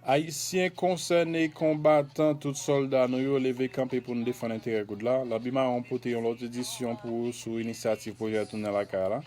Ayisyen konsène, konbatan, tout sòlda nou yo, leve kanpe pou nou defann enterè goud la. Labi Mawon pote yon lòt edisyon pou ou sou inisyativ pwojè Tounen Lakay la.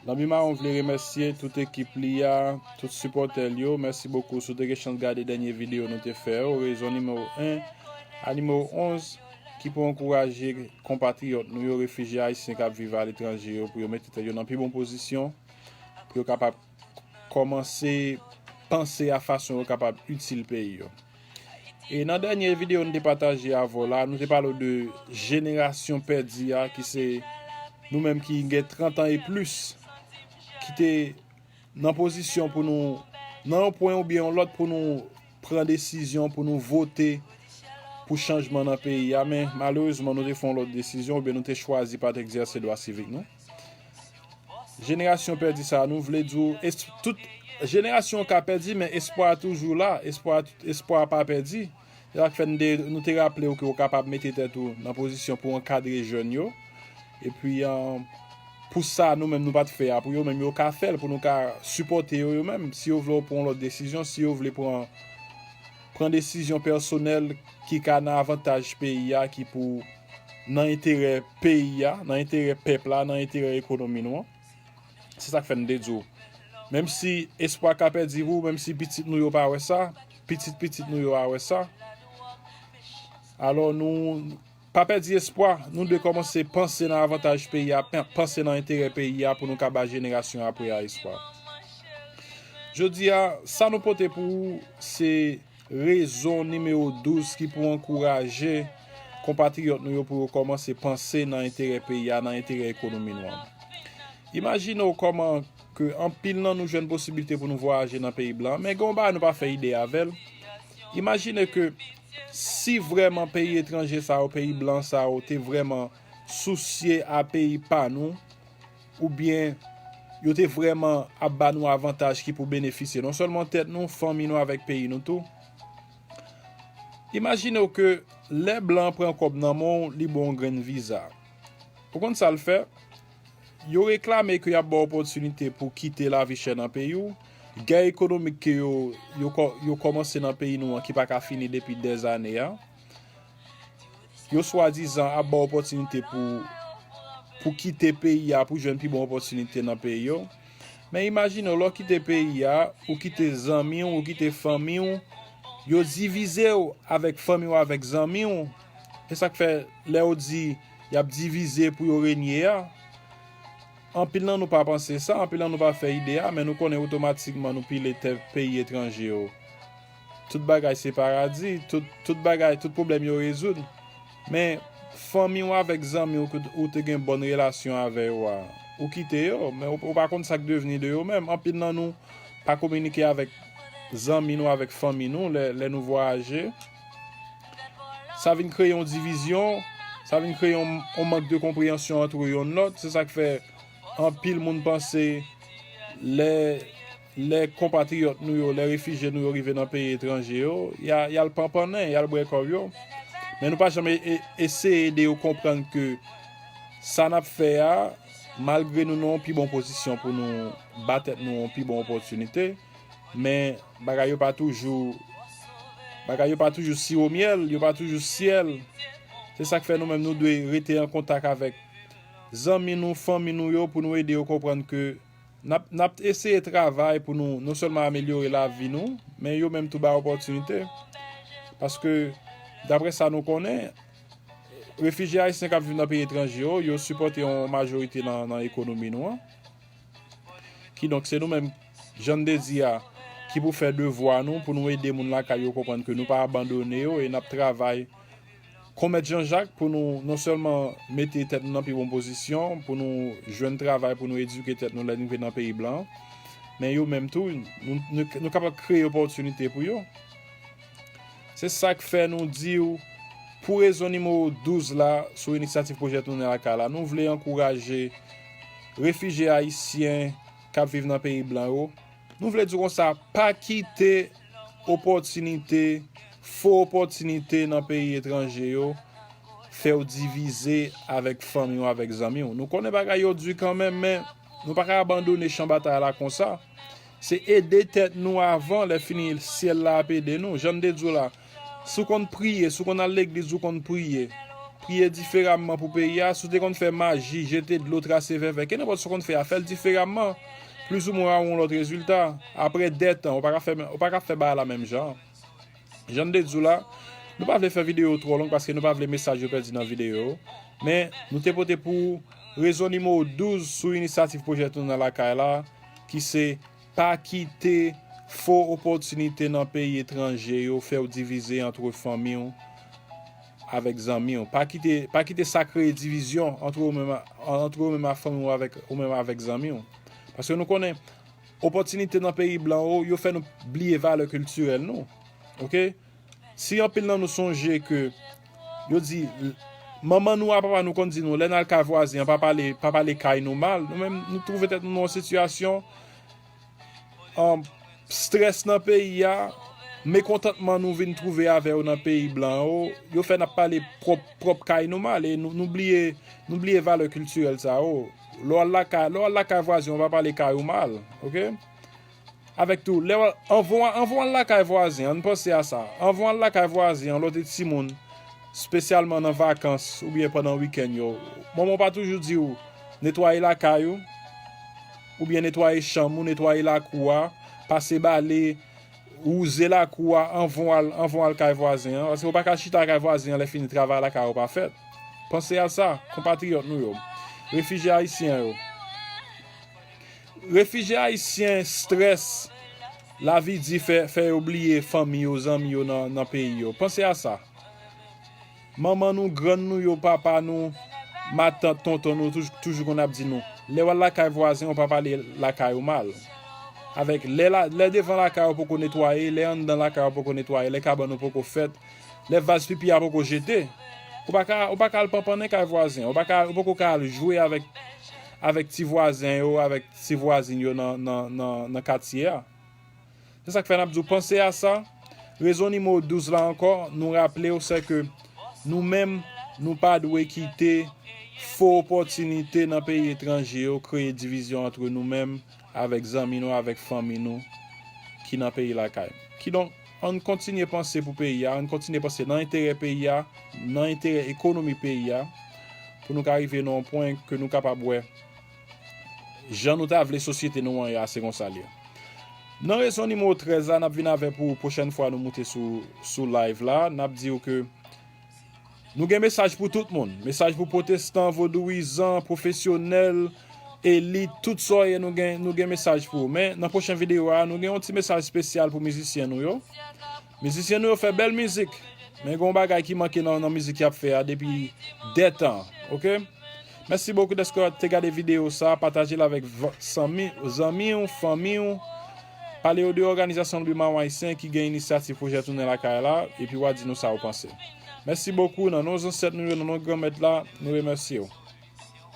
Lanbi Mawon vle remèsye tout ekip li a, tout sipòtè l yo. Mèsi bokou si w te gen chans gade dènye videyo nou te fè yo, rezon nimewo 1 a nimewo 11 ki pou ankouraje konpatriyòt nou yo, refijye ayisyen k ap viv aletranje yo pou yo mete tèt yo nan pi bon pozisyon. pou yo kapab kòmanse panse a fason yo kapab itil peyi yo. E nan dènye videyo nou te pataje avè w la, nou te pale w de jenerasyon pèdi a ki se nou menm ki gen 30 an e plis ki te nan pozisyon pou nou nan yon pwen oubyen yon lòt pou nou pran desizyon pou nou vote pou chanjman nan peyi a men malerezman nou te fè yon lòt desizyon oubyen nou te chwazi pa t egzèse dwa sivik nou. Jenerasyon pèdi sa nou vle di w tout jenerasyon ka pèdi men espwa toujou la espwa pa pèdi se sak fè nou te raple w ke w kapab mete tèt ou nan pozisyon pou w ankadre jèn yo epi pou sa nou menm nou pat fè a pou yo menm yo ka fè l pou nou ka sipòte yo yo menm si yo vle yo pran lòt desizyon si yo vle pran pran desizyon pèsonèl ki ka nan avantaj peyi a ki pou nan enterè peyi a, nan enterè pèp la, nan enterè ekonomi nou an. Se sa k fè n te di w, menm si espwa ka pèdi pou, menm si pitit nou yo pa wè sa, pitit pitit nou yo a wè sa, alò nou. Pa pèdi espwa, nou dwe kòmanse panse nan avantaj peyi a, panse nan enterè peyi a pou nou ka ba jenerasyon apre a espwa. Jodi a, sa nou pote pou ou se rezon nimewo 12 ki pou ankouraje konpatriyòt nou yo pou yo kòmanse panse nan enterè peyi a, nan enterè ekonomi nou an. Imajine w kòman ke anpil nan nou jwenn posiblite pou nou vwayaje nan peyi blan, men gen yon bagay nou pa fè ide avè l, imajine ke. Si vreman peyi etranje sa yo peyi blan sa yo te vreman sousye a peyi pa nou ou byen yo te vreman ap ba nou avantaj ki pou benefisye non selman tet nou fanmi nou avek peyi nou tou imajine w ke le blan pran kob nan men w li ba w yon grenn viza ou konn sa l fè Yo reklame ke y ap ba w opòtinite pou kite lavi chè nan peyi w, gè ekonomik ke yo yo kòmanse nan peyi nou an ki pa ka fini depi dèzane a. Yo swadizan ap ba w opòtinite pou pou kite peyi a pou jwenn pi bon opòtinite nan peyi yo. Men imajine w, lè w kite peyi a, ou kite zanmi w, ou kite fanmi w, yo divize w avèk fanmi w avèk zanmi w. Se sa k fè lè yo di. Y ap divize pou yo renye a. Anpil nan nou pa panse sa, anpil nan nou pa fè ide a, men nou konnen otomatikman nou pile tè peyi etranje yo. Tout bagay se paradi, tout bagay, tout pwoblèm yo rezoud. Men, fanmi w avèk zanmi w ke ou te gen bòn relasyon avè yo a, ou kite yo, men ou pa konn sa k devni de yo menm. Anpil nan nou pa kominike avèk zanmi nou, avèk fanmi nou lè nou vwayaje. Sa vin kreye yon divizyon, sa vin kreye yon mank de konpreyansyon antre yon lòt, se sak fè anpil moun panse lè konpatriyòt nou yo, lè refijye nou yo rive nan peyi etranje yo, yal panpannen, yal bwè kòb yo, men nou pa janm eseye ede yo konprann ke sa nap fè a, malgre nou nan yon pi bon pozisyon pou nou ba tèt nou yon pi bon opòtinite. Men, bagay yo pa toujou, bagay yo pa toujou siwo myèl, yo pa toujou syèl. Se sa k fè nou menm nou dwe rete an kontak avèk zanmi nou, fanmi nou yo pou nou ede yo konprann ke n ap eseye travay pou nou non sèlman amelyore lavi nou, men yo menm tou bay opòtinite. Paske, dapre sa nou konnen, refijye ayisyen k ap viv nan peyi etranje yo, yo sipòte yon majorite nan ekonomi nou an. Kidonk, se nou menm, jan n te di a, ki pou fè devwa nou pou nou ede moun lakay yo konprann ke nou pa abandone yo e n ap travay kon mèt Janjak pou nou non sèlman mete tèt nou nan pi bon pozisyon pou nou jwenn travay pou nou edike tèt nou lè n rive nan peyi blan men yo menm tou nou kapab kreye opòtinite pou yo. Se sa k fè nou di w, pou rezon nimewo 12 la, sou inisyativ Pwojè Tounen Lakay la, nou vle ankouraje refijye ayisyen k ap viv nan peyi blan yo, nou vle di w konsa, pa kite opòtinite, fo opòtinite nan peyi etranje yo fè w divize avèk fanmi w, avèk zanmi w. Nou konnen bagay yo di kanmenm, men nou pa ka abandone chan batay la konsa. Se ede tèt nou avan lè fini syèl la ap ede nou. Janm te di w la, si w konn priye, si w konn al legliz ou konn priye, priye diferamman pou peyi a, si w te konn fè maji, jete dlo, trase vèvè, kenenpòt sa w konn fè a, fè l diferamman, plis ou mwen w a wè yon lòt rezilta. Aprè 2 tan, ou pa ka fè, ou pa ka fè bagay la menm jan an. Jan m te di w la, nou pa vle fè videyo yo twò long paske nou pa vle mesaj yo pèdi nan videyo yo. Men, nou te pote pou ou rezon nimewo 12 sou inisyativ pwojè Tounen Lakay la ki se Pa kite fo opòtinite nan peyi etranje yo fè w divize antre fanmi w avèk zanmi w. Pa kite, pa kite sa kreye divizyon antre ou menm, antre ou menm ak fanmi w avèk, ou menm avèk zanmi w. Paske nou konnen. Opòtinite nan peyi blan yo, yo fè nou bliye valè kiltirèl nou. Ok? Si anpil nan nou sonje ke yo di manman nou a papa nou konn di nou lè n al kay vwazen an pa pale pa pale kay nou mal, nou menm nou twouve tèt nou nan yon sitiyasyon strès nan peyi a, mekontantman nou vin twouve avè yo nan peyi blan yo, yo fè n ap pale pwòp pwòp kay nou mal e nou bliye nou bliye valè kiltirèl sa yo. Lè w al lakay, lè w al lakay vwazen, w pa pale kay ou mal, oke. Avèk tou, lè w al, anvan w al, anvan w al lakay vwazen, ann panse a sa, anvan w al lakay vwazen an, lè w te timoun, spesyalman nan vakans oubyen pandan wikenn yo, manman w pa toujou di w, netwaye lakay ou, oubyen netwaye chanm ou, netwaye lakou a, pase bale. Wouze lakou a anvan w al anvan w al kay vwazen an, paske ou pa ka chita kay vwazen an lèfini travay lakay ou pa fèt. Panse a sa, konpatriyòt nou yo. Refijye ayisyen yo. Refijye ayisyen strès lavi di fè fè yo bliye fanmi yo, zanmi yo nan nan peyi yo. Panse a sa. Manman nou, grann nou yo, papa nou, matant, tonton nou toujou konn ap di nou, lè w al lakay vwazen ou pa pale lakay ou mal. Avèk lè devan lakay ou poko netwaye, lè anndan lakay ou poko netwaye, lè kabann ou poko fèt, lè vaz pipi a poko jete, ou pa ka al panpannen kay vwazen, ou poko ka al jwe avèk ti vwazen yo, avèk ti vwazin yo nan katye a. Se sa k fè n ap di w panse a sa, rezon nimewo 12 la ankò nou raple w se ke nou menm nou pa dwe kite fo opòtinite nan peyi etranje yo kreye divizyon antre nou menm avèk zanmi nou avèk fanmi nou ki nan peyi lakay nou. Kidonk, an n kontinye panse pou peyi a, an n kontinye panse nan enterè peyi a, nan enterè ekonomi peyi a pou nou ka rive nan yon pwen ke nou kapab wè. Jan nou ta vle sosyete nou an ya se konsa l ye. Nan rezon nimewo 13 la nap vin avè pou pwochèn fwa nou moute sou sou live la nap diw ke nou gen mesaj pou tout moun mesaj pou pwotestan vodouwizan pwofesyonèl elit tout sa w ye nou gen nou gen mesaj pou ou men nan pwochen videyo a nou gen yon ti mesaj spesyal pou mizisyen nou yo. Mizisyen nou yo fè bèl mizik men gen yon bagay ki manke nan mizik yap fè a depi dè tan ok mèsi bokou dèske te gade video sa patajel avèk zanmiw fanmiw pale yo de òganizasyon lbi maron ayisyen ki gen inisyativ pwojè tounen lakay la epi wa di nou sa ou panse mèsi bokou nan non zansèt nou yo nan non granmèt la nou remèsyew.